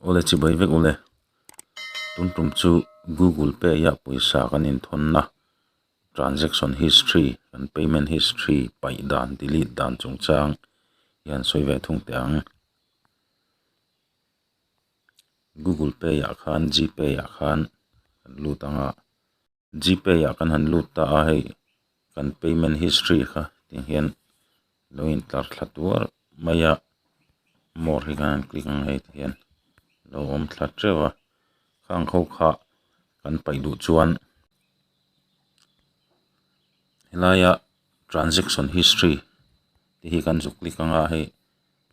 Ule chibai vek ule, tumtum chu Google Pay ah hian pawisa kan inthawn na transaction history kan payment history paih dan delete dan chung chang hian sawi ve thung teh ang, Google Pay ah khan Gpay ah khan kan lut ang a. G pay ah kan han lut ta a hei kan payment history kha tih hian lo in tlar thla tuar mai a more hi khan han click ang hei tih hian lo awm thla teuh a khang ho kha kan paih duh chuan he lai a transaction history te hi kan zuk click ang a hei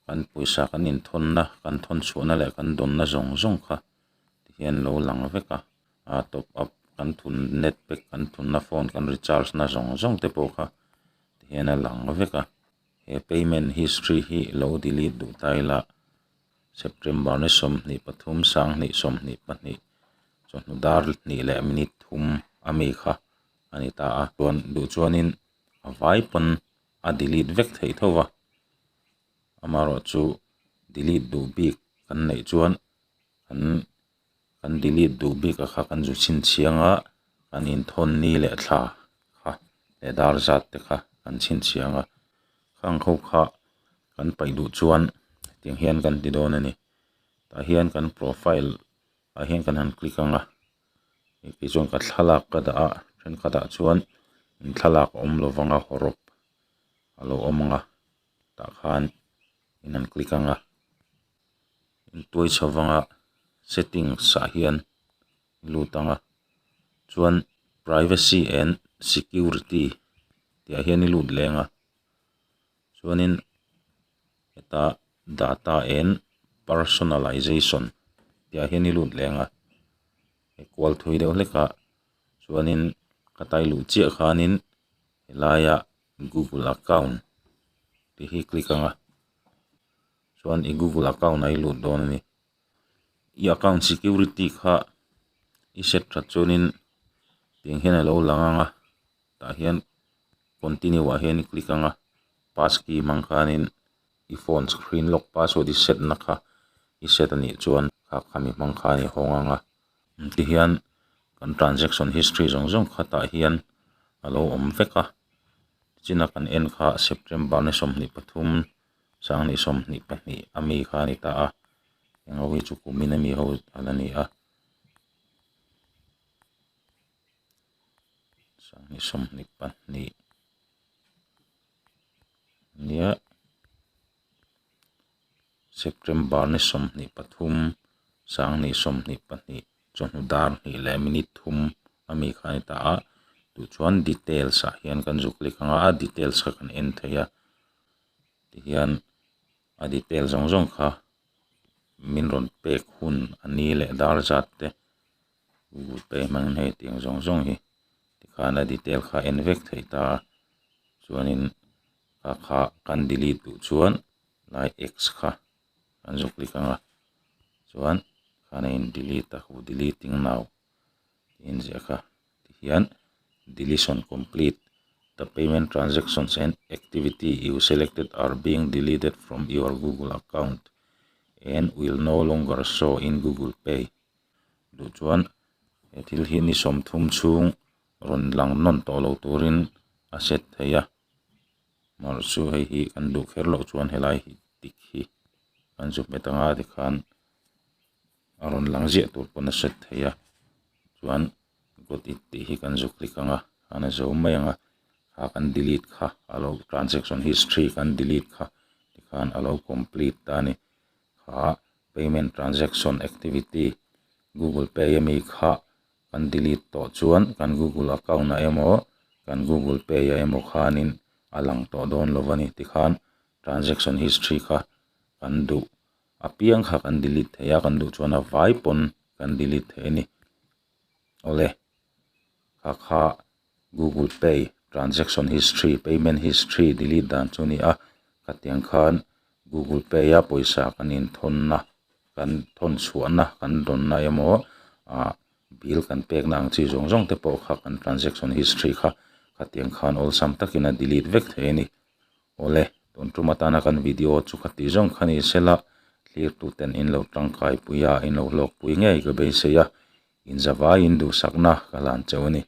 kan pawisa kan in thawn na kan thawn chhuah na leh kan dawn na zawng zawng kha ti hian lo lang vek a. ah top up kan thun net pack kan thun na phone kan recharge na zawng zawng te pawh kha ti hian a lang vek a he payment history hi i lo delete duh ta ila september ni sawmhnih pathum sanghnih sawmhnih pahnih sawhnu dar hnih leh minute thum a mi kha a ni ta a chuan duh chuanin a vai pawn a delete vek theih tho va amaherawhchu delete duh bik kan neih chuan an-- kan delete duh bik a kha kan zu chhinchhiang a, kan inthawn ni leh thla kha leh dar zat te kha kan chhinchhiang a, khang ho kha kan paih duh chuan hetiang hian kan ti dawn a ni, tah hian kan profile ah hian kan han click ang a, engti chuan ka thlalak ka dah a, thenkhatah chuan in thlalak a awm lo vang a haw rawp a lo awm ang a, tah khan in han click ang a. intuai chho vanga settings ah hian i lut ang a chuan privacy and security tih ah hian i lut leh ang a chuanin hetah data and personalisation tih ah hian i lut leh ang a hei kual thui deuh hlek ah chuanin ka tailuh chiah khanin helaia google account tih hi click ang a. chuan i google account a i lut dawn a ni i account security kha i set tha chuan in tiang hian a lo lang ang a tah hian continue ah hian i click ang a passkey hmang khan in i phone screen lock password i set na kha i set a nih chuan khak khami hmang khan i hawng ang a ti hian kan transaction history zawng zawng kha tah hian a lo awm vek a chin a kan en kha September ni sawmhnih pathum. Sanghnih sawmhnih pahnih a mi kha a ni ta a, heng ho hi chu kumin a mi ho a la ni a. Sanghnih sawmhnih pahnih nia September ni sawmhnih pathum, Sanghnih sawmhnih pahnih chawhnu dar hnih leh minute thum a mi kha a ni ta a, tih chuan details ah hian kan zuk lek ang a, a details kha kan en thei a. tihian a detail zawng zawng kha min rawn pek hun a ni leh dar zat te google pay hmang hne tiang zawng zawng hi tikhan a detail kha a en vek theih ta chuanin a kha kan delete duh chuan lai X kha kan zuk click anga chuan khana in delete a hu deleting now . tih in ziah ka ti hian deletion complete the payment transactions and activity you selected are being deleted from your google account and will no longer show in google pay duh chuan he thil hi ni sawm thum chhung rawn lang nawn tawh lo turin a set theih a mahse chu hei hi kan duh kher loh chuan he lai hi tik hi kan zuk hmet ang a tikhan. a rawn lang ziah tur pawn a hret thei a chuan got it tih hi kan zuk hlik ang a an la zawm mai ang a a kan delete kha a lo transaction history kan delete kha tikhan a lo complete ta a ni khah payment transaction activity google pay ami kha kan delete tawh chuan kan google account ah emaw kan google pay ah emaw khanin a lang tawh dawn lo a ni tikhan transaction history kha kan duh-- apiang kha kan delete thei a kan duh chuan a vai pawn kan delete thei a ni awle kha kha google pay transaction history payment history delete dan chu a ni a hetiang khan google pay a pawisa kan in thawn na kan thawn chhuah na kan rawn na emaw ah bill kan pek na ang chi zawng zawng te pawh kha kan transaction history kha hetiang khan awlsam takin a delete vek thei a ni. Awle, tun tum atana kan video chu kha ti zawng kha ni se la, thlirtuten in lo tangkaipui a, in lo hlawkpui ngei ka beisei a, inzavaiin duhsakna ka hlan cheu a ni.